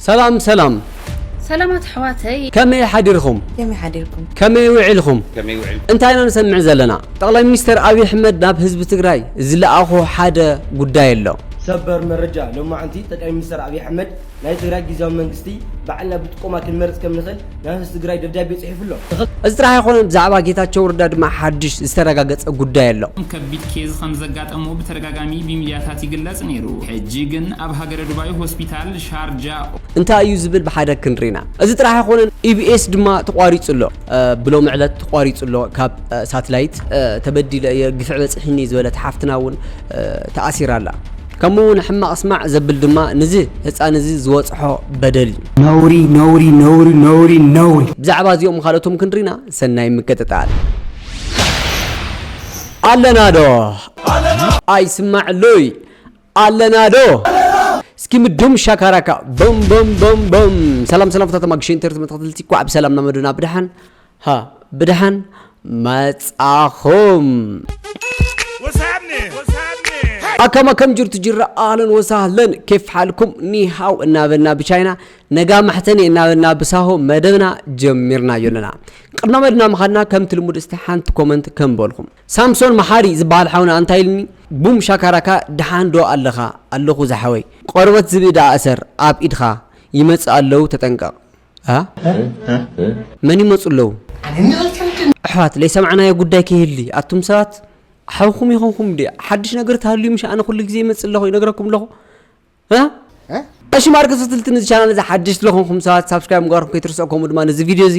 ሰላም ሰላም ሰላማት ኣሕዋተይ። ከመይ ሓዲርኹም? ከመይ ሓዲርኩም? ከመይ ውዒልኹም? ከመይ ውዒልኩም? እንታይ ኢና ንሰምዕ ዘለና? ጠቕላይ ሚኒስተር ኣብዪ ኣሕመድ ናብ ህዝቢ ትግራይ ዝለኣኾ ሓደ ጉዳይ ኣሎ። ሰበር መረጃ፣ ሎማዕንቲ ጠቅላይ ሚኒስተር ኣብዪ ኣሕመድ፣ ናይ ትግራይ ጊዚያዊ መንግስቲ ባዕልና ብጥቆማ ክንመርጽ ከም ንኽእል፣ ዳህስስ ትግራይ ደብዳቤ ፅሒፉ ኣሎ። እዚ ጥራሕ ኣይኮነን ብዛዕባ ጌታቸው ረዳ ድማ ሓድሽ ዝተረጋገፀ ጉዳይ ኣሎ። ከቢድ ኬዝ ከምዘጋጠሞ ብተደጋጋሚ ብሚድያታት ይግለፅ ነይሩ ሕጂ ግን ኣብ ሃገረ ዱባይ ሆስፒታል ሻርጃ። እንታይ እዩ ዝብል ብሓደ ክንሪና። እዚ ጥራሕ ኣይኮነን ኢቢኤስ ድማ ተቋሪፁ ኣሎ። ብሎሚ ዕለት ተቋሪፁ ኣሎ ካብ ሳትላይት። ተበዲለ እየ ግፍዒ በፂሒኒ ዝበለት ሓፍትና እውን ተኣሲራ ኣላ። ከምኡ ውን ሕማቅ ስማዕ ዘብል ድማ ንዚ ህጻን እዚ ዝወጽሖ በደል እዩ። ነውሪ ነውሪ ነውሪ ነውሪ ነውሪ። ብዛዕባ እዚኦም ካልኦቶም ክንሪና ሰናይ ምቅጥጣል። ኣለና ዶ ኣይስማዕ ሉይ ኣለና ዶ እስኪ ምዱም ሻካራካ ቦም ቦም ቦም ቦም ሰላም ሰላም ፍታቶም ኣግሽንተር ተመታተልቲ ኳዕ ብሰላም ናመዱና ብድሓን ሃ ብድሓን መጻኹም። ኣካም ኣካም ጅርቱ ጅራ ኣህለን ወሳህለን ኬፍ ሓልኩም ኒሃው እናበልና ብቻይና ነጋ መሕተኒ እናበልና ብሳሆ መደብና ጀሚርናዮ ኣለና ቅድና መድና ምኻድና ከምቲ ልሙድ እስቲ ሓንቲ ኮመንት ከምበልኹም ሳምሶን መሓሪ ዝበሃል ሓውና እንታይ ኢልኒ ቡም ሻካራካ ድሓን ዶ ኣለኻ ኣለኹ ዝሓወይ ቆርበት ዝብኢ ደኣ እሰር ኣብ ኢድኻ ይመጽእ ኣለዉ ተጠንቀቕ እ መን ይመጹ ኣለዉ? ኣሕዋት ለይሰማዕናዮ ጉዳይ ከይህሊ ኣቱም ሰባት ሓውኹም ይኾንኩም ድዩ? ሓድሽ ነገር ተሃልዩ ምሽ ኣነ ኩሉ ግዜ ይመጽእ ኣለኹ ይነግረኩም ኣለኹ እሺ ማርክ ስትልቲ ነዚ ቻናል እዚ ሓድሽ ዝኾንኩም ሰባት ሳብስክራይብ ምግባርኩም ከይትርስዑ ከምኡ ድማ ነዚ ቪድዮ እዚ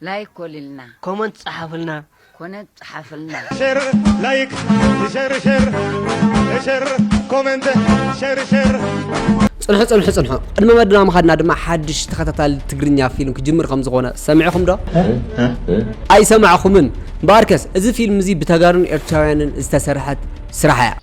ላይክ ኮልልና ኮመንት ጸሓፉልና። ኮነት ጸሓፍልና። ሸር ላይክ ሸር ሸር ሸር ኮመንት ሸር ሸር ጽንሑ ጽንሑ ጽንሑ ቅድሚ መድና ምኻድና ድማ ሓድሽ ተኸታታሊ ትግርኛ ፊልም ክጅምር ከም ዝኾነ ሰሚዕኹም ዶ ኣይሰማዕኹምን እምበኣርከስ እዚ ፊልም እዚ ብተጋሩን ኤርትራውያንን ዝተሰርሐት ስራሕ እያ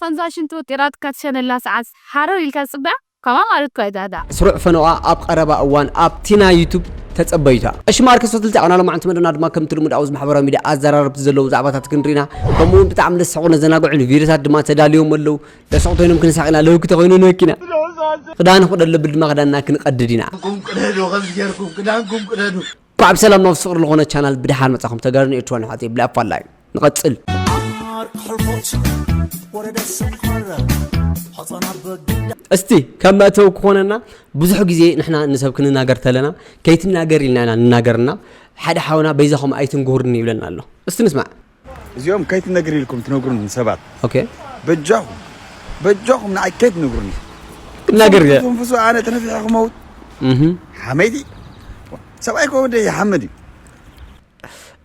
ኸምዛ ሽንቲ ወጢራትካ ትሸነላ ሰዓት ሃረር ኢልካ ዝጽበያ ከምኣ ማለት እኮ እያ ዳዳ። ስሩዕ ፈነወኣ ኣብ ቐረባ እዋን ኣብቲ ናይ ዩቱብ ተጸበዩታ። ቀሺ ማርከስ ፈትልቲ ኣብና ሎማዕንቲ መደብና ድማ ከምቲ ልሙድ ኣብዚ ማሕበራዊ ሚድያ ኣዘራረብቲ ዘለዎም ዛዕባታት ክንሪኢና ከምኡ ውን ብጣዕሚ ለስሕቁን ለዘናግዑን ቪድዮታት ድማ ተዳልዮም ኣለው ለስዑ ተይኖም ክንሳቅ ኢና ለውኪ ተኮይኑ ንበኪ ኢና ክዳን ክቅደድ ለብል ድማ ክዳንና ክንቀድድ ኢና። ክዳንኩም ቅደዱ ከምዚ ጌርኩም ክዳንኩም ቅደዱ። እንኳዕ ብሰላም ናብ ፍቅር ልኾነ ቻናል ብደሓን መጻኹም ተጋሩን ኤርትራን ኣሕዋተይ ብላይ ኣፋላይ ንቐጽል እስቲ ከም መእተዊ ክኾነና ብዙሕ ግዜ ንሕና ንሰብ ክንናገር ተለና ከይትናገር ኢልና ኢና ንናገርና ሓደ ሓውና በይዛኹም ኣይትንጉርኒ ይብለና ኣሎ እስቲ ንስማዕ እዚኦም ከይትነግሪ ኢልኩም ትነግሩኒ ሰባት ኦኬ በጃኹም በጃኹም ንዓይ ከይትነግሩኒ ክናገር እየ ትንፍሱ ኣነ ተነፊሐ ክመውት ሓመይቲ ሰብኣይ ኮ ወደ ይሓምድ እዩ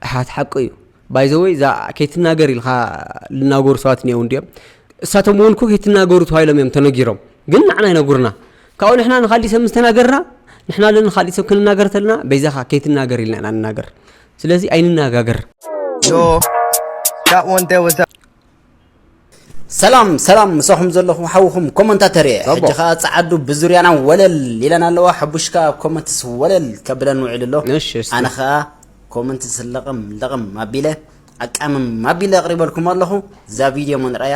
ኣሓት ሓቂ እዩ ባይዘወይ እዛ ከይትናገር ኢልካ ልናገሩ ሰባት እኒአው እንዲኦም እሳቶም እውን ኮ ከይትናገሩ ተባሂሎም እዮም ተነጊሮም ግን ንዓና ይነግሩና ካብኡ ንሕና ንካሊእ ሰብ ምስ ተናገርና ንሕና ለን ንካሊእ ሰብ ክንናገር ተለና በይዛኻ ከይትናገር ኢልና ኢና ንናገር ስለዚ ኣይንነጋገር። ሰላም ሰላም ምሳኹም ዘለኹ ሓውኹም ኮመንታተር እየ ሕጂ ከዓ ፀዓዱ ብዙርያና ወለል ኢለን ኣለዋ ሕቡሽ ከዓ ኣብ ኮመንትስ ወለል ከብለን ውዒሉ ኣሎ ኣነ ከዓ ኮመንት ስለቕም ለቕም ኣቢለ ኣቃምም ኣቢለ ኣቕሪበልኩም ኣለኹ እዛ ቪድዮ መንረያ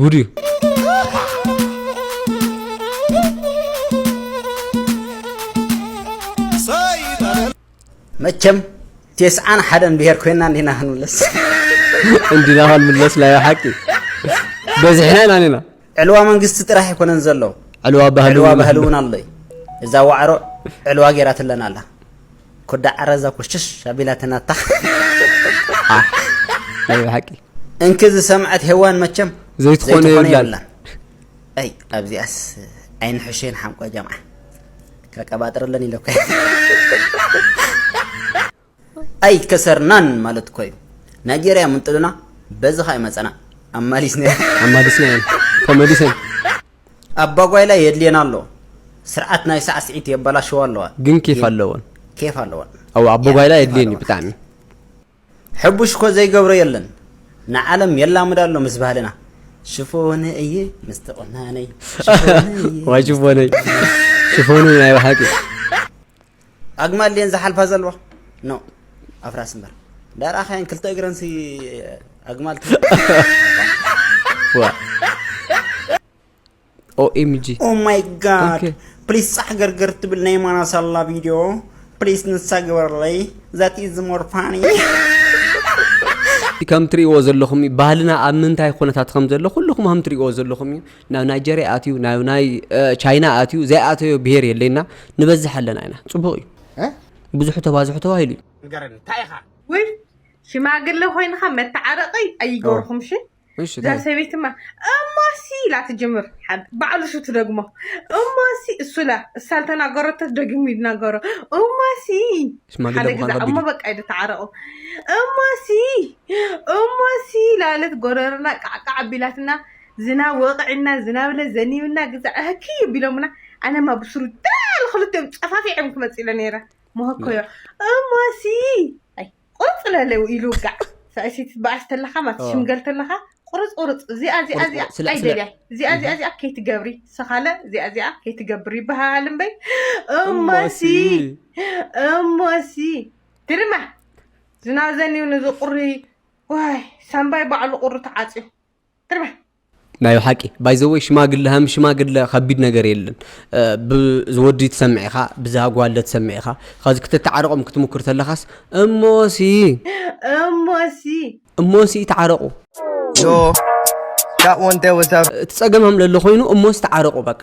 ጉድ እዩ መቸም ቴስዓን ሓደን ብሄር ኮይና እንዲና ክንምለስ እንዲና ክንምለስ ናይ ሓቂ በዝሕና ኢና ኒና ዕልዋ መንግስቲ ጥራሕ ኣይኮነን ዘሎ ዕልዋ ባህሊ እውን ኣሎ እዛ ዋዕሮ ዕልዋ ገይራትለና ኣላ ኮዳ ዕረ እዛ ኮሽሽ ኣቢላትና ኣታ። ናይ ብሓቂ እንኪ ዝሰምዐት ሄዋን መቸም ዘይትኾነ የብላን። ኣይ ኣብዚኣስ ኣይንሕሸን ሓንቆ ጀምዓ ከቀባጥረለን ኢለ እኮ ኣይከሰርናን ማለት እኮ እዩ ናይጀርያ ምንጥሉና በዚ ኸ ይመፀና ኣማሊስና ኣማሊስና ተመሊሰን ኣባጓይላ የድልየና ኣሎ ስርዓት ናይ ሳዕስዒት የበላሽዋ ኣለዋ ግን ኬፍ ኣለወን ኬፍ ኣለወን ኣው ኣቦጓይላ የድልየኒ ብጣዕሚ ሕቡሽ እኮ ዘይገብሮ የለን ንዓለም የላምዳ ኣሎ ምስ ባህልና ሽፎነ እየ ምስቲ ቁናነይ ሽፎነ እየ ሽፎነ ናይ ባሓቂ ኣግማል ድየን ዝሓልፋ ዘለዋ ኖ ኣፍራስ እምበር ዳርኣኻየን ክልተ እግረንሲ ኣግማል ኦኤምጂ ኦ ማይ ጋድ ፕሊስ ፃሕ ገርገር ትብል ናይ ማና ሳላ ቪድዮ ፕሊስ ንሳ ግበረለይ ዛት ኢዝ ሞር ፋኒ ከም ትሪእዎ ዘለኹም እዩ ባህልና ኣብ ምንታይ ኩነታት ከም ዘሎ ኩልኹም ከም ትሪእዎ ዘለኹም እዩ ናብ ናይጀርያ ኣትዩ ናብ ናይ ቻይና ኣትዩ ዘይኣተዮ ብሄር የለይ እና ንበዝሕ ኣለና ኢና ፅቡቕ እዩ ብዙሑ ተባዝሑ ተባሂሉ እዩ ንገረኒ እንታይ ኢኻ ውይ ሽማግለ ኮይንኻ መተዓረቂ ኣይገርኹም እሺ እሺ እዛ ሰበይትማ እማሲ ኢላ ትጅምር ሓብ- ባዕሉ እሱ ትደግሞ እማሲ እሱ ኢላ እሳ ዝተናገረቶ ደጊሙ ይናገሮ እማሲ ሽማግለ ሓደ ምዃን ግዛ ከቢድ እሞ እዩ። በቃ ኢሉ ተዓረቑ እማሲ እማሲ ላለት ጎረርና ቃዕቃዕ ኣቢላትና ዝናብ ወቕዕና ዝናብለ ዘኒብና ግዛዕ ህክይ ቢሎምና ኣነማ ብስሩ ዳል ክልቲኦም ጨፋፊዖም ክመፅ ኢለ ነይረ መሆኮዮ እሞሲ ኣይ ቁርፅ ለለ ኢሉ ውጋዕ ሰኣይሲት ትበኣስ ተለኻ ማለት ኦ ሽምገል ተለኻ ቁርፅ ቁርፅ እዚኣ እዚኣ ቁርፅ እዚኣ ቁርፅ ስለ ስለ ኣይደልያ እዚኣ እዚኣ እህም። እዚኣ ከይትገብሪ ሰኻለ እዚኣ እዚኣ ከይትገብሪ ይበሃል እምበይ እሞሲ እሞሲ እሞሲ ትርማ ዝናብ ዘኒብኒ ዝቑሪ ዋይ ሳምባይ ባዕሉ ቁሪ ተዓፅዩ ናይ ብሓቂ ባይዘወይ ሽማግለ ሃም ሽማግለ ከቢድ ነገር የለን ብዝወዲ ትሰምዕ ኢኻ ብዛ ጓለ ትሰምዕ ኢኻ ከዚ ክትተዓረቆም ክትምክር ተለኻስ እሞሲ እሞሲ እሞሲ ተዓረቁ እቲ ጸገም ሃም ለሎ ኮይኑ እሞሲ ተዓረቁ በቃ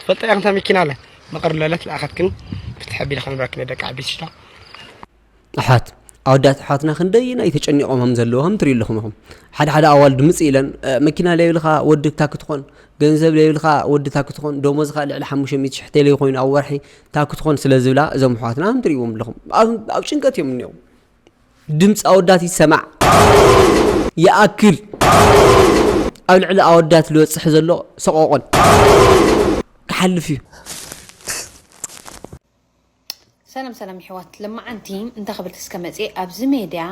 ትፈልጣ ኢኻ እንታ መኪና ኣለ መቐር ለለት ለኣኸትክን ፍትሕ ኣቢለ ከንብረክን ደቂ ዓበይቲ ሽታ ኣሕዋት ኣወዳት ኣሕዋትና ክንደይናይ ተጨኒቖም ከም ዘለዎ ከም ትሪኡ ኣለኹም ኢኹም ሓደ ሓደ ኣዋልድ ምፅ ኢለን መኪና ለይብልካ ወዲ እታ ክትኾን ገንዘብ ለይብልካ ወዲ እታ ክትኾን ደሞዝካ ልዕሊ ሓሙሽተ ሚእቲ ሽሕ ተለይ ኮይኑ ኣብ ወርሒ እታ ክትኾን ስለ ዝብላ እዞም ኣሕዋትና ከም ትሪእዎም ኣለኹም ኣብ ጭንቀት እዮም እኒኦም ድምፂ ኣወዳት ይሰማዕ ይኣክል ኣብ ልዕሊ ኣወዳት ልበፅሕ ዘሎ ሰቆቆን ክሓልፍ እዩ። ሰላም ሰላም ይሕዋት ለማዓንቲ እንታ ክብል እስከ መፅየ ኣብዚ ሜድያ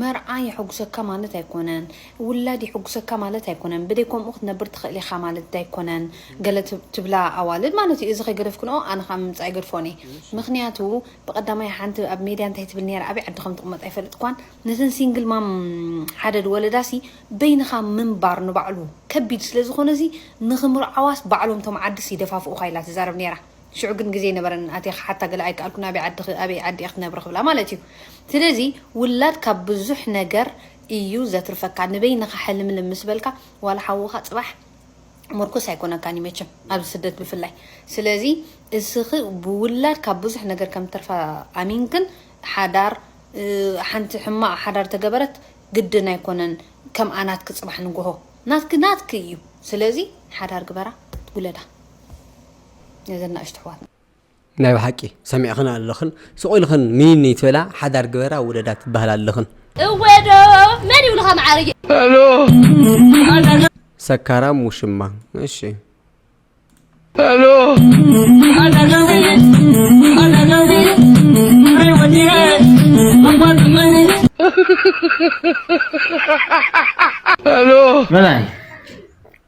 መርዓ የሕጉሰካ ማለት ኣይኮነን ውላድ የሕጉሰካ ማለት ኣይኮነን ብደይ ከምኡ ክትነብር ትኽእል ኢኻ ማለት ዳይኮነን ገለ ትብላ ኣዋልድ ማለት እዩ እዚ ከይገደፍክንኦ ኣነ ከዓ ምምፃእ ኣይገድፎን እየ ምክንያቱ ብቀዳማይ ሓንቲ ኣብ ሜድያ እንታይ ትብል ኔራ ኣበይ ዓዲ ከም ትቅመጥ ኣይፈልጥኳን ነተን ሲንግል ማም ሓደ ድወለዳ ሲ በይንካ ምንባር ንባዕሉ ከቢድ ስለ ዝኮነ እዚ ንክምርዓዋስ ባዕሎም ቶም ዓድስ ይደፋፍኡካ ኢላ ትዛረብ ኔራ ሽዑ ግን ግዜ ኣይነበረንን ኣትየ ክሓታ ገለ ኣይከኣልኩን ኣበይ ዓድኪ ኣበይ ዓዲ ኢኪ ትነብሪ ክብላ ማለት እዩ ስለዚ ውላድ ካብ ብዙሕ ነገር እዩ ዘትርፈካ ንበይንካ ሕልምልም ምስ በልካ ዋላ ሓውካ ጽባሕ ምርኩስ ኣይኮነካን እዩ መቸም ኣብዚ ስደት ብፍላይ ስለዚ እስኺ ብውላድ ካብ ብዙሕ ነገር ከም ትርፋ ኣሚንክን ሓዳር ሓንቲ ሕማቕ ሓዳር ተገበረት ግድን ኣይኮነን ከም ኣናትኪ ፅባሕ ንግሆ ናትኪ ናትኪ እዩ ስለዚ ሓዳር ግበራ ውለዳ ነዘን ናእሽቱ ኣሕዋትና ናይ ብሓቂ ሰሚዕኽን ኣለኽን ስቅ ኢልኽን ንይንይ ትበላ ሓዳር ግበራ ውለዳ ትበሃላ ኣለኽን። እወ ዶ መን ይብሉኻ መዓረይ። ሰካራም ውሽማ እሺ።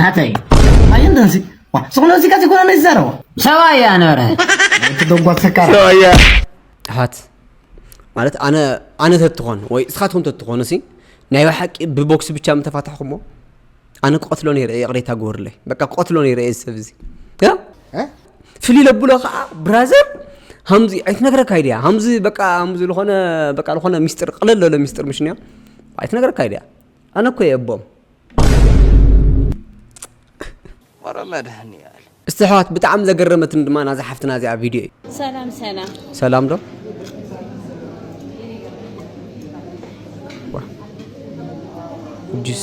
ናተይ ኣየን ደንሲ ዝኾነ ሙዚቃ ዘይኮነ ነዚ ዘረባ ሰብኣያ ነበረ እቲ ደጓት ሰካራ ጥፋት ማለት ኣነ ኣነ ተትኾን ወይ እስኻትኩም ተትኾኑ ሲ ናይ ብሓቂ ብቦክሲ ብቻ ምተፋታሕኩሞ ኣነ ክቐትሎ ነይረ ይቕሬታ ግበሩለይ በቃ ክቐትሎ ነይረ እዚ ሰብ እዚ ፍልይ ለብሎ ከዓ ብራዘር ሃምዚ ኣይትነግረካ ይድያ ሃምዚ በቃ ሃምዚ ዝኾነ በቃ ዝኾነ ሚስጥር ቅለል ለሎ ሚስጥር ምሽንያ ኣይትነግረካ ይድያ ኣነ እኮ የቦም ወረ መድሃኒኣል እስቲ ኣሕዋት ብጣዕሚ ዘገረመትኒ ድማ ናዛ ሓፍትና እዚኣ ቪድዮ እዩ ሰላም ሰላም ሰላም ዶ ጁስ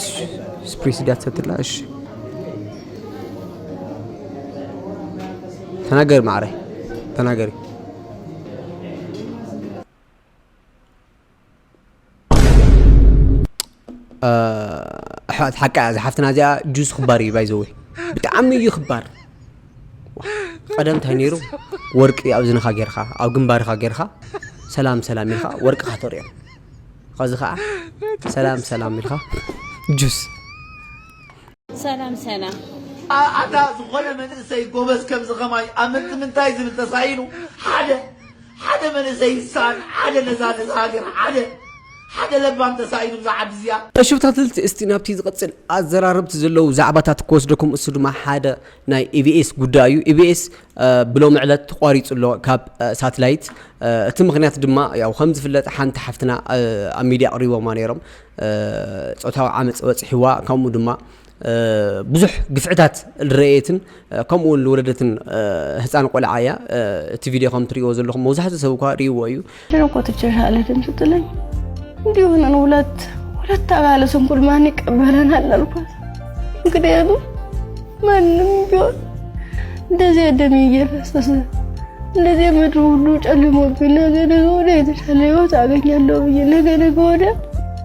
ስፕሪስ ድያ ትሰትላ እሺ ተናገሪ ማዕረ ተናገሪ ኣሕዋት ሓቃ እያ ዝሓፍትና እዚኣ ጁስ ክባር እዩ ባይዘወ ብጣዕሚ እዩ ክባር ቀደም እንታይ ነይሩ ወርቂ ኣብ ዝንኻ ጌርካ ኣብ ግንባርካ ጌርካ ሰላም ሰላም ኢልካ ወርቅኻ ተርእዮም ከዚ ከዓ ሰላም ሰላም ኢልካ ጁስ ሰላም ሰላም ኣታ ዝኾነ መንእሰይ ጎበዝ ከምዚ ከማይ ኣብ ምንታይ ዝብል ተሳኢኑ ሓደ ሓደ መንእሰይ ልሳን ሓደ ነዛ ነዛ ሃገር ሓደ ሓደ ለባም ተሳኢኑ እዛ ዓዲ እዚኣ። እሺ ብታትልቲ እስቲ ናብቲ ዝቅጽል ኣዘራረብቲ ዘለዉ ዛዕባታት ክወስደኩም እሱ ድማ ሓደ ናይ ኢቢኤስ ጉዳይ እዩ ኢቢኤስ ብሎሚ ዕለት ተቋሪጹ ኣሎ ካብ ሳትላይት እቲ ምክንያት ድማ ያው ከም ዝፍለጥ ሓንቲ ሓፍትና ኣብ ሚድያ ኣቅሪቦማ ነይሮም ጾታዊ ዓመጽ በጽሕዋ ከምኡ ድማ ብዙሕ ግፍዕታት ልረኤትን ከምኡ እውን ልወለደትን ህፃን ቆልዓ እያ እቲ ቪድዮ ከም ትሪእዎ ዘለኹም መብዛሕትኡ ሰብ እኳ ሪእዎ እዩ እኮ ትጀሻለትን ስትለኝ እንዲሁ ነን ሁለት ሁለት አባለ ስንኩል ማን ይቀበለናል አልኳት። ምክንያቱም ማንም ቢሆን እንደዚያ ደሜ እየፈሰሰ እንደዚያ ምድሩ ሁሉ ጨልሞብኝ ነገ ነገ ወዲያ የተሻለ ህይወት አገኛለሁ ብዬ ነገ ነገ ወዲያ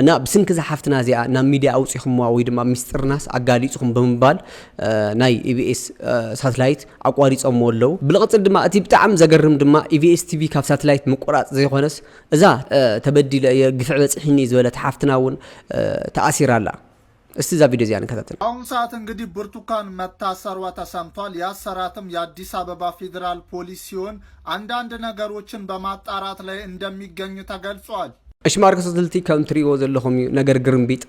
እና ብስንኪ እዛ ሓፍትና እዚኣ ናብ ሚድያ ኣውፂኹምዋ ወይ ድማ ሚስጥርናስ ኣጋሊፅኹም ብምባል ናይ ኢቢኤስ ሳትላይት ኣቋሪፆምዎ ኣለዉ ብልቕፅል ድማ እቲ ብጣዕሚ ዘገርም ድማ ኢቢኤስ ቲቪ ካብ ሳትላይት ምቁራፅ ዘይኮነስ እዛ ተበዲለ እየ ግፍዒ በፂሒኒ ዝበለት ሓፍትና እውን ተኣሲራ ኣላ። እስቲ እዛ ቪድዮ እዚኣ ንከታተል። በአሁን ሰዓት እንግዲህ ብርቱካን መታሰሯ ተሰምቷል። ያሰራትም የአዲስ አበባ ፌዴራል ፖሊስ ሲሆን አንዳንድ ነገሮችን በማጣራት ላይ እንደሚገኝ ተገልጿል። እሺ ማርክ ሰትልቲ ከም ትሪእዎ ዘለኹም እዩ ነገር ግርምቢጥ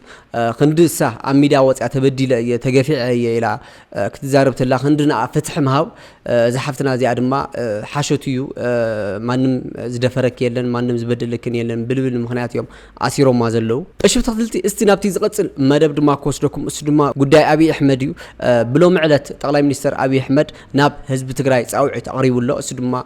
ክንዲ እሳ ኣብ ሚድያ ወፅያ ተበዲለ እየ ተገፊዐ እየ ኢላ ክትዛረብ ተላ ክንዲ ንኣ ፍትሒ ምሃብ እዛ ሓፍትና እዚኣ ድማ ሓሾት እዩ ማንም ዝደፈረኪ የለን ማንም ዝበደለክን የለን ብልብል ምክንያት እዮም ኣሲሮማ ዘለው እሺ ተክትልቲ እስቲ ናብቲ ዝቐጽል መደብ ድማ ክወስደኩም እሱ ድማ ጉዳይ ኣብይ ኣሕመድ እዩ ብሎሚ ዕለት ጠቅላይ ሚኒስተር ኣብይ ኣሕመድ ናብ ህዝቢ ትግራይ ጻውዒት ኣቕሪቡ ኣሎ እሱ ድማ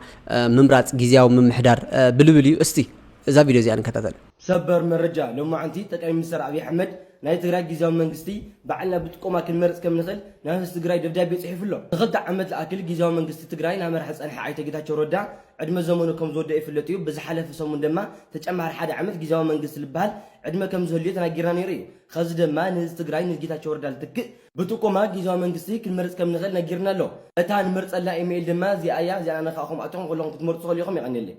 ምምራጽ ግዝያዊ ምምሕዳር ብልብል እዩ እስቲ እዛ ቪድዮ እዚኣ ንከታተል ሰበር መረጃ፣ ሎማዕንቲ ጠቅላይ ሚኒስተር ኣብይ ኣሕመድ ናይ ትግራይ ጊዚያዊ መንግስቲ ባዕልና ብጥቆማ ክንመርፅ ከም ንኽእል ናብ ህዝቢ ትግራይ ደብዳቤ ፅሒፉ ኣሎ። ንክልተ ዓመት ዝኣክል ጊዚያዊ መንግስቲ ትግራይ ናመርሐ ዝፀንሐ ኣይተ ጌታቸው ረዳ ዕድመ ዘመኑ ከም ዝወደኣ ይፍለጥ እዩ። ብዝሓለፈ ሰሙን ደማ ተጨማሪ ሓደ ዓመት ጊዚያዊ መንግስቲ ልበሃል ዕድመ ከም ዝህልዮ ተናጊርና ነይሩ እዩ። ኸዚ ደማ ንህዝቢ ትግራይ ንጌታቸው ረዳ ልትክእ፣ ብጥቆማ ጊዚያዊ መንግስቲ ክንመርፅ ከም ንኽእል ነጊርና ኣሎ። እታ ንመርፀላ ኢመይል ደማ እዚኣ እያ፣ እዚኣ ንኣና ኻዓ ከምኣተኹም ኹለኹም ክትመርፁ ትኽእሉ ኢኹም። የቐንየለይ።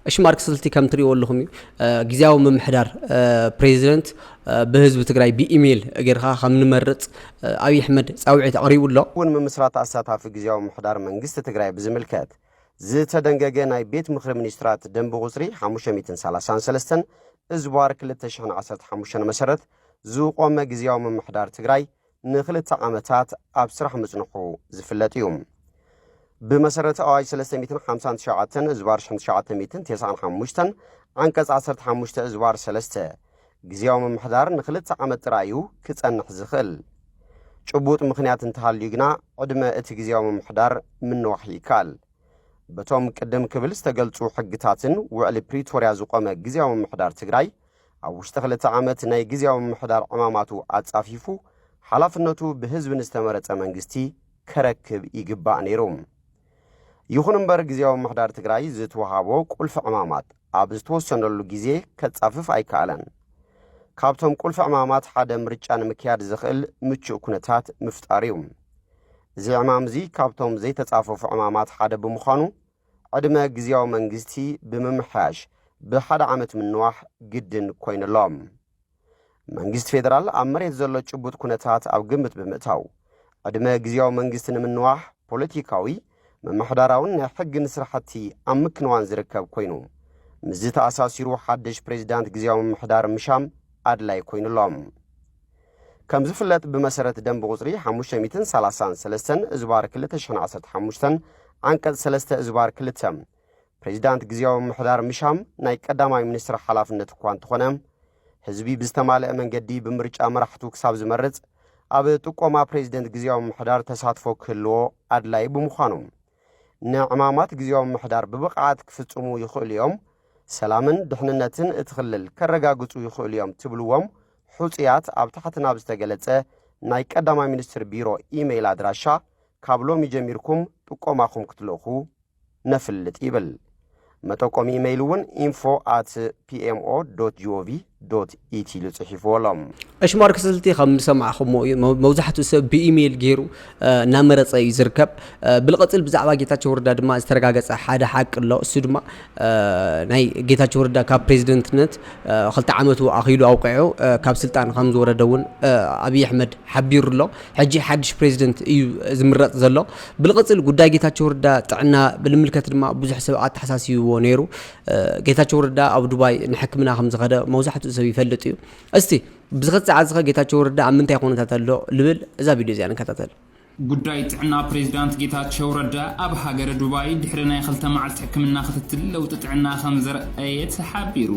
እሺ ማርክስ ልቲ ከም ትሪእዎ ኣለኹም እዩ ግዜያዊ ምምሕዳር ፕሬዚደንት ብህዝቢ ትግራይ ብኢሜይል ጌርካ ከም ንመርፅ ኣብዪ ኣሕመድ ፃውዒት ኣቕሪቡ ኣሎ እውን ምምስራት ኣሳታፊ ግዜያዊ ምምሕዳር መንግስቲ ትግራይ ብዝምልከት ዝተደንገገ ናይ ቤት ምኽሪ ሚኒስትራት ደንቢ ቁፅሪ 533 እዝባር 2015 መሰረት ዝቖመ ግዜያዊ ምምሕዳር ትግራይ ንክልተ ዓመታት ኣብ ስራሕ ምጽንሑ ዝፍለጥ እዩ። ብመሰረት ኣዋጅ 359 እዝባር 1995 ዓንቀጽ 15 እዝባር 3 ግዜያዊ ምምሕዳር ንክልተ ዓመት ጥራይ እዩ ክጸንሕ ዝኽእል። ጭቡጥ ምኽንያት እንተሃልዩ ግና ዕድመ እቲ ግዜያዊ ምምሕዳር ምንዋሕ ይከኣል። በቶም ቅድም ክብል ዝተገልጹ ሕግታትን ውዕሊ ፕሪቶርያ ዝቖመ ግዜያዊ ምምሕዳር ትግራይ ኣብ ውሽጢ ክልተ ዓመት ናይ ግዝያዊ ምምሕዳር ዕማማቱ ኣጻፊፉ ሓላፍነቱ ብህዝቢ ንዝተመረጸ መንግስቲ ከረክብ ይግባእ ነይሩ። ይኹን እምበር ግዝያዊ ምምሕዳር ትግራይ ዝትወሃቦ ቁልፊ ዕማማት ኣብ ዝተወሰነሉ ግዜ ከጻፍፍ ኣይከኣለን። ካብቶም ቁልፊ ዕማማት ሓደ ምርጫ ንምክያድ ዘኽእል ምቹእ ኩነታት ምፍጣር እዩ። እዚ ዕማም እዚ ካብቶም ዘይተጻፈፉ ዕማማት ሓደ ብምዃኑ ዕድመ ግዝያዊ መንግስቲ ብምምሕያሽ ብሓደ ዓመት ምንዋሕ ግድን ኮይኑ ኣሎ። መንግስቲ ፌደራል ኣብ መሬት ዘሎ ጭቡጥ ኩነታት ኣብ ግምት ብምእታው ዕድመ ግዝያዊ መንግስቲ ንምንዋሕ ፖለቲካዊ፣ ምምሕዳራውን ናይ ሕግን ስራሕቲ ኣብ ምክንዋን ዝርከብ ኮይኑ ምስዚ ተኣሳሲሩ ሓድሽ ፕሬዚዳንት ግዝያዊ ምምሕዳር ምሻም ኣድላይ ኮይኑ ኣሎ። ከም ዝፍለጥ ብመሰረት ደንቢ ቁፅሪ ሓሙሽተ ሚእትን ሰላሳን ሰለስተን እዝባር ክልተ ሽሕን ዓሰርተ ሓሙሽተን ዓንቀፅ ሰለስተ እዝባር ክልተ ፕሬዚዳንት ግዜያዊ ምምሕዳር ምሻም ናይ ቀዳማይ ሚኒስትር ሓላፍነት እኳ እንተኾነ ህዝቢ ብዝተማልአ መንገዲ ብምርጫ መራሕቱ ክሳብ ዝመርፅ ኣብ ጥቆማ ፕሬዚደንት ግዜያዊ ምምሕዳር ተሳትፎ ክህልዎ ኣድላዪ ብምዃኑ ንዕማማት ግዜያዊ ምምሕዳር ብብቕዓት ክፍጽሙ ይኽእሉ እዮም፣ ሰላምን ድሕንነትን እቲ ክልል ከረጋግጹ ይኽእሉ እዮም ትብልዎም ሑጹያት ኣብ ታሕቲ ናብ ዝተገለጸ ናይ ቀዳማይ ሚኒስትር ቢሮ ኢመይል ኣድራሻ ካብ ሎሚ ጀሚርኩም ጥቆማኹም ክትልእኹ ነፍልጥ ይብል። መጠቆሚ ኢመይል እውን ኢንፎ ኣት ፒኤምኦ ዶት ጂኦቪ ዶት ኢቲ ኢሉ ጽሒፍዎ ኣሎ። ዕሽማር ክስልቲ ከም ዝሰማዕኹሞ እዩ መብዛሕትኡ ሰብ ብኢሜይል ገይሩ እናመረፀ እዩ ዝርከብ ብልቐፅል ብዛዕባ ጌታቸው ረዳ ድማ ዝተረጋገፀ ሓደ ሓቂ ኣሎ እሱ ድማ ናይ ጌታቸው ረዳ ካብ ፕሬዚደንትነት ክልተ ዓመቱ ኣኺሉ ኣውቂዑ ካብ ስልጣን ከም ዝወረደ እውን ኣብዪ ኣሕመድ ሓቢሩ ኣሎ ሕጂ ሓድሽ ፕሬዚደንት እዩ ዝምረፅ ዘሎ። ብልቕፅል ጉዳይ ጌታቸው ረዳ ጥዕና ብልምልከት ድማ ብዙሕ ሰብ ኣተሓሳሲብዎ ነይሩ። ጌታቸው ረዳ ኣብ ዱባይ ንሕክምና ከም ዝኸደ መብዛሕትኡ ሰብ ይፈልጥ እዩ። እስቲ ብዝኸፅ ሰዓት ዝኸ ጌታቸው ረዳ ኣብ ምንታይ ኩነታት ኣሎ ልብል እዛ ቪድዮ እዚኣ ንከታተል። ጉዳይ ጥዕና ፕሬዚዳንት ጌታቸው ረዳ ኣብ ሃገረ ዱባይ ድሕሪ ናይ ክልተ መዓልቲ ሕክምና ክትትል ለውጢ ጥዕና ከም ዘርኣየ ተሓቢሩ።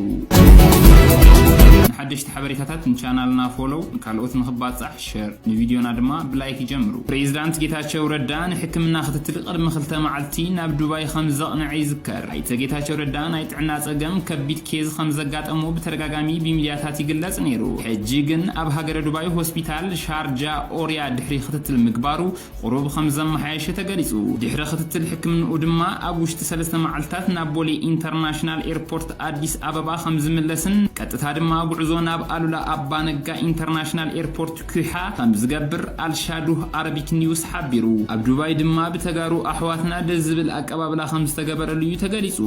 ንሓደሽቲ ሓበሬታታት ንቻናልና ፎሎው፣ ንካልኦት ንክባፃሕ ሸር ንቪድዮና ድማ ብላይክ ይጀምሩ። ፕሬዚዳንት ጌታቸው ረዳ ንሕክምና ክትትል ቅድሚ ክልተ መዓልቲ ናብ ዱባይ ከምዘቕነዐ ይዝከር። ኣይተ ጌታቸው ረዳ ናይ ጥዕና ፀገም ከቢድ ኬዝ ከምዘጋጠሞ ብተደጋጋሚ ብሚድያታት ይግለፅ ነይሩ። ሕጂ ግን ኣብ ሃገረ ዱባይ ሆስፒታል ሻርጃ ኦርያ ድሕሪ ክትትል ምግባሩ ቁሩብ ከም ዘመሓየሸ ተገሊጹ። ድሕሪ ክትትል ሕክምንኡ ድማ ኣብ ውሽጢ ሰለስተ መዓልታት ናብ ቦሌ ኢንተርናሽናል ኤርፖርት ኣዲስ ኣበባ ከም ዝምለስን ቀጥታ ድማ ጉዕዞ ናብ ኣሉላ ኣባ ነጋ ኢንተርናሽናል ኤርፖርት ኲሓ ከም ዝገብር ኣልሻዱህ ኣረቢክ ኒውስ ሓቢሩ። ኣብ ዱባይ ድማ ብተጋሩ ኣሕዋትና ደስ ዝብል ኣቀባብላ ከም ዝተገበረሉ'ዩ ተገሊጹ።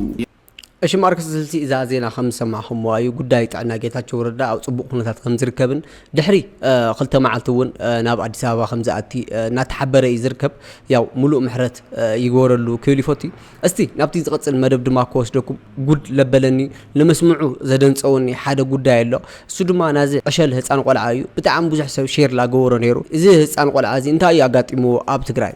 እሺ ማርክስ ስልሲ እዛ ዜና ከም ዝሰማዕኹምዋ እዩ ጉዳይ ጥዕና ጌታቸው ረዳ ኣብ ጽቡቕ ኩነታት ከም ዝርከብን ድሕሪ ክልተ መዓልቲ እውን ናብ ኣዲስ ኣበባ ከም ዝኣቲ እናተሓበረ እዩ ዝርከብ ያው ሙሉእ ምሕረት ይግበረሉ ክብል ይፈቱ እስቲ ናብቲ ዝቐጽል መደብ ድማ ክወስደኩም ጉድ ለበለኒ ንመስምዑ ዘደንጸወኒ ሓደ ጉዳይ ኣሎ እሱ ድማ ናዚ ዕሸል ህፃን ቆልዓ እዩ ብጣዕሚ ብዙሕ ሰብ ሼር ላገበሮ ነይሩ እዚ ህፃን ቆልዓ እዚ እንታይ እዩ ኣጋጢምዎ ኣብ ትግራይ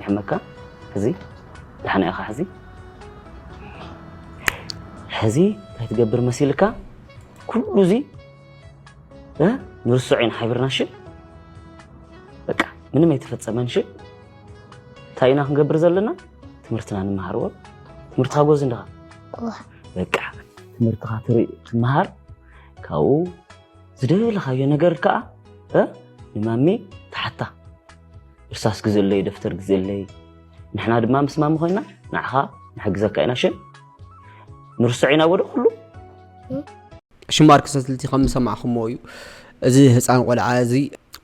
ይሕመካ ሕዚ ዳሕና ኢኻ ሕዚ ሕዚ እንታይ ትገብር መሲልካ ኩሉ እዚ ንርስዖ ኢና ሓቢርና እሺ በቃ ምንም ኣይተፈፀመን እሺ እንታይ ኢና ክንገብር ዘለና ትምህርትና ንመሃርዎ ትምህርትኻ ጎዝ እንድኻ በቃ ትምህርትኻ ትርኢ ትመሃር ካብኡ ዝደለኻዮ ነገር ከዓ ንማሚ ተሓታ እርሳስ ግዝእለይ ደፍተር ግዝእለይ ንሕና ድማ ምስ ማሚ ኮይና ንዓኻ ንሕግዘካ ኢና ሽም ንርሶዕ ኢና ወደ ኩሉ ሽማር ክሰትልቲ ከም ዝሰማዕኹሞ እዩ እዚ ህፃን ቆልዓ እዚ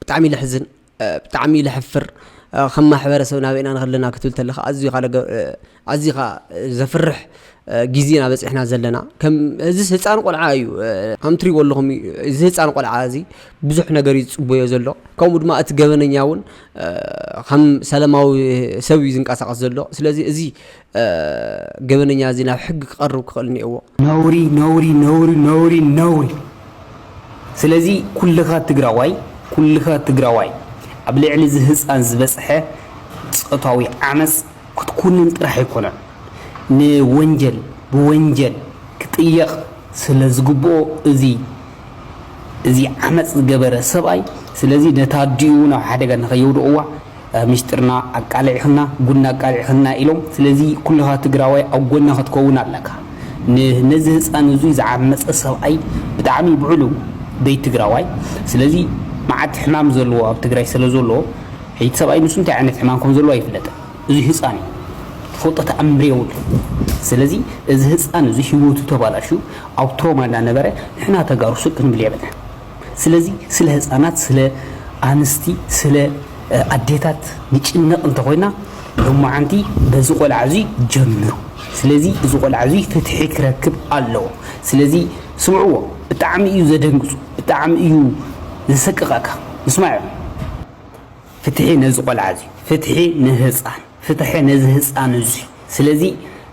ብጣዕሚ ልሕዝን ብጣዕሚ ልሕፍር ከም ማሕበረሰብ ናበይና ንኸለና ክትብል ተለካ ኣዝዩ ካለ ኣዝዩ ከኣ ዘፍርሕ ግዜ ኢና በጺሕና ዘለና ከም እዚስ ህጻን ቆልዓ እዩ ከም ትሪእዎ ኣለኹም እዚ ህጻን ቆልዓ እዚ ብዙሕ ነገር እዩ ዝጽበዮ ዘሎ ከምኡ ድማ እቲ ገበነኛ እውን ከም ሰላማዊ ሰብ እዩ ዝንቀሳቐስ ዘሎ ስለዚ እዚ ገበነኛ እዚ ናብ ሕጊ ክቐርብ ክኽእል እኒኦዎ ነውሪ ነውሪ ነውሪ ነውሪ ነውሪ ስለዚ ኩልኻ ትግራዋይ ኩልኻ ትግራዋይ ኣብ ልዕሊ እዚ ህፃን ዝበፅሐ ፆታዊ ዓመፅ ክትኩንን ጥራሕ ኣይኮነን ንወንጀል ብወንጀል ክጥየቅ ስለ ዝግብኦ እዚ እዚ ዓመጽ ዝገበረ ሰብኣይ ስለዚ ነታ ኣዲኡ እውን ኣብ ሓደጋ ንከየውድቅዋ ሚስጥርና ኣቃሊዕክና ጉድና ኣቃሊዕክና ኢሎም ስለዚ ኩልካ ትግራዋይ ኣብ ጎና ክትከውን ኣለካ ን ነዚ ህጻን እዙይ ዝዓመጸ ሰብኣይ ብጣዕሚ ብዕሉ ቤት ትግራዋይ ስለዚ መዓት ሕማም ዘለዎ ኣብ ትግራይ ስለ ዘሎ ሕጂ እቲ ሰብኣይ ንሱ እንታይ ዓይነት ሕማም ከም ዘለዎ ኣይፍለጥን እዙይ ህጻን እዩ ትፈልጦ ተኣምር የብሉን ስለዚ እዚ ህጻን እዚ ሂወቱ ተባላሽዩ ኣብ ትሮማ እንዳነበረ ንሕና ተጋሩ ስቅ ክንብል የብልናን ስለዚ ስለ ህጻናት ስለ ኣንስቲ ስለ ኣዴታት ንጭነቅ እንተኾይና ሎማዓንቲ በዚ ቆልዓ እዙይ ጀምሩ ስለዚ እዚ ቆልዓ እዙይ ፍትሒ ክረክብ ኣለዎ ስለዚ ስምዕዎ ብጣዕሚ እዩ ዘደንግጹ ብጣዕሚ እዩ ዘሰቅቀካ ምስማዕ እዩ። ፍትሒ ነዚ ቆልዓ እዚ ፍትሒ ንህፃን ፍትሐ ነዚ ህፃን እዙይ ስለዚ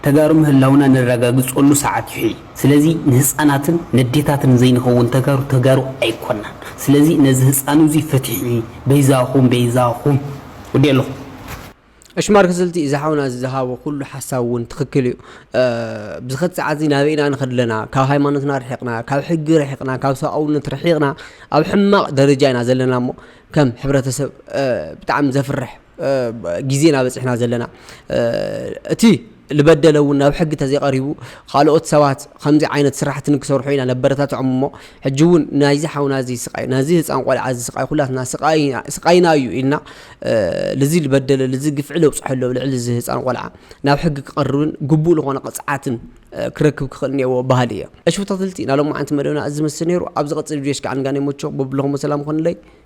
ተጋሩ ምህላውና ነራጋግፀሉ ሰዓት እዩ ሕይ ስለዚ ንህፃናትን ነዴታትን ዘይንኸውን ተጋሩ ተጋሩ ኣይኮናን ስለዚ ነዚ ህፃን እዙይ ፍትሒ በይዛኹም በይዛኹም ወዲኤ ኣለኹ። እሽማር ክስልቲ እዚ ሓውና እዚ ዝሃቦ ኩሉ ሓሳብ እውን ትኽክል እዩ ብዝኸት ሰዓት እዚ ናበይ ኢና ንኸድ ኣለና ካብ ሃይማኖትና ርሒቕና ካብ ሕጊ ርሒቕና ካብ ሰብኣውነት ርሒቕና ኣብ ሕማቕ ደረጃ ኢና ዘለና እሞ ከም ሕብረተሰብ ብጣዕሚ ዘፍርሕ ግዜና በፂሕና ዘለና እቲ ልበደለ እውን ናብ ሕጊ ተዘይቀሪቡ ኻልኦት ሰባት ኸምዚ ዓይነት ስራሕቲ ንክሰርሑ ኢና ነበረታትዖም እሞ ሕጂ እውን ናይዚ ሓውና እዚ ስቃይ ናዚ ህፃን ቆልዓ እዚ ስቃይ ኹላትና ስቃይና እዩ ኢልና ልዚ ልበደለ ልዚ ግፍዒ ለብፀሐሉ ኣብ ልዕሊ እዚ ህፃን ቆልዓ ናብ ሕጊ ክቀርብን ግቡእ ልኾነ ቅፅዓትን ክረክብ ክኽእል እኒኤዎ በሃሊ እየ። እሺ ተከታተልቲ ናይ ሎማዓንቲ መደብና እዚ ዝመስል ነይሩ ኣብ ዝቅፅል ቪድዮስ ክዓ ንጋነይ ሞቾ በብልኹሞ ሰላም ይኹንለይ።